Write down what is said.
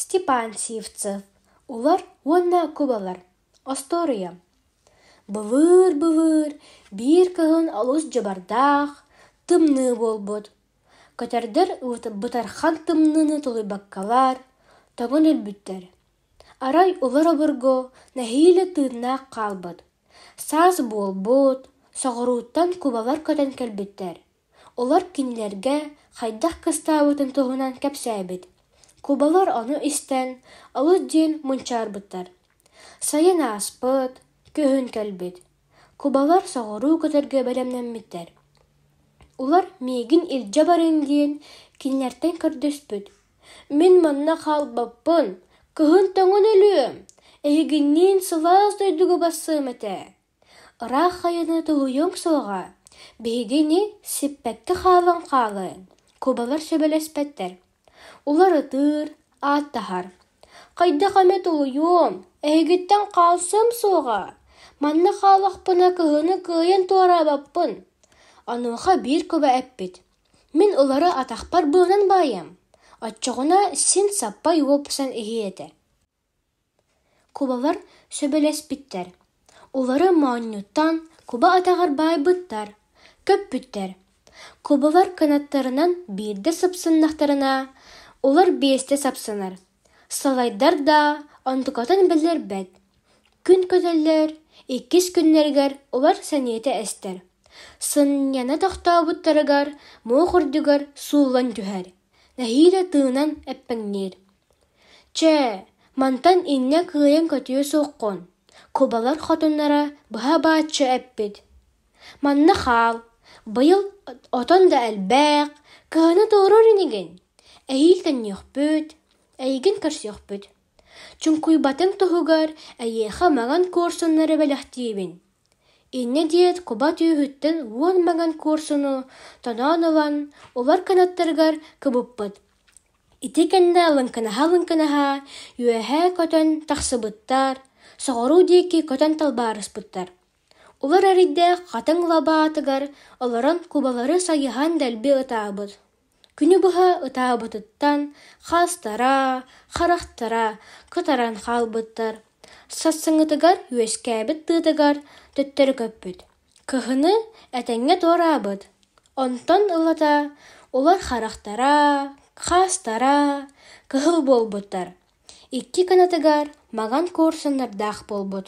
Степансиевцев Олор уонна Кубалар остуоруйа Былыыр-былыыр биир кыһын олус дьабардаах, тымныы буолбут. Көтөрдөр бытархан тымныыны тулуйбаккалар, тоҥон өлбүттэр. Арай олор обургу нэһиилэ тыыннаах хаалбыт. Саас буолбут, соҕурууттан кубалар көтөн кэлбиттэр. Олор кинилэргэ хайдах кыстаабытын туһунан кэпсээбит. Кубалар ону истэн, олус диэн мунчаарбыттар. Сайын ааспыт, күһүн кэлбит. Кубалар соҕуруу көтөргө бэлэмнэммиттэр. Улар миигин илдьэ барыҥ диэн кинилэртэн көрдөспүт. Мин манна хаалбаппын, кыһын тоҥон өлүөм, эһигинниин сылаас дойдуга бассыам этэ Ыраах хайаны тоһуйуоҥ суоҕа, биһиги ини сиппэккэ хаалан хаалыан, кубалар сөбүлэспэттэр, уларытыыр, ааттаһар: «Хайдах эмэ тоһуйуом, эһигиттэн хаалсыам суоҕа, манна хаалахпына кыһыны кыайан туораабаппын, онуоха биир куба эппит: Мин ылары атахпар быынан баайам, оччоҕуна син саппай уопсан иһиэ этэ» кубалар сөбүлэспиттэр улары моонньуттан куба атаҕар баайбыттар көппүттэр кубалар кынаттарынан биирдэ сыпсыннахтарына улар биэстэ сапсынар салайдар да онтукатын билэрбэт күн көтөллөр иккис күннэригэр улар сэниэтэ эстэр сынньана тохтообуттарыгар муох үрдүгэр сууллан түһэр нэһиилэ тыынан эппэҥниир Чэ, мантан инньэ кыайан көтүө суоххун, кубалар хотуннара быһа бааччы эппит: «Манна хаал, быйыл отон да элбээх, кыһыны туоруур инигин, эһиил төннүөхпүт, эйигин көрсүөхпүт. Чуҥкуйбатыҥ туһугар эйиэхэ маҥан куорсуннары бэлэхтиибин» инньэ диэт куба түөһүттэн уон маҥан куорсуну тоноон ылан, улар кынаттарыгар кыбыппыт. Ити кэннэ лыҥкынаһа-лыҥкынаһа үөһээ көтөн тахсыбыттар, соҕуруу диэки көтөн талбаарыспыттар. Олор эрэйдээх хатыҥ лабаатыгар олорон кубалары сайыһан дэлби ытаабыт. Күнү быһа ытаабытыттан хаастара, харахтара кытаран хаалбыттар, сарсыҥҥытыгар үөскээбит тыатыгар төттөрү көппүт Кыһыны этэҥҥэ туораабыт, онтон ылата улар харахтара, хаастара кыһыл буолбуттар, икки кынатыгар маҥан куурсуннардаах буолбут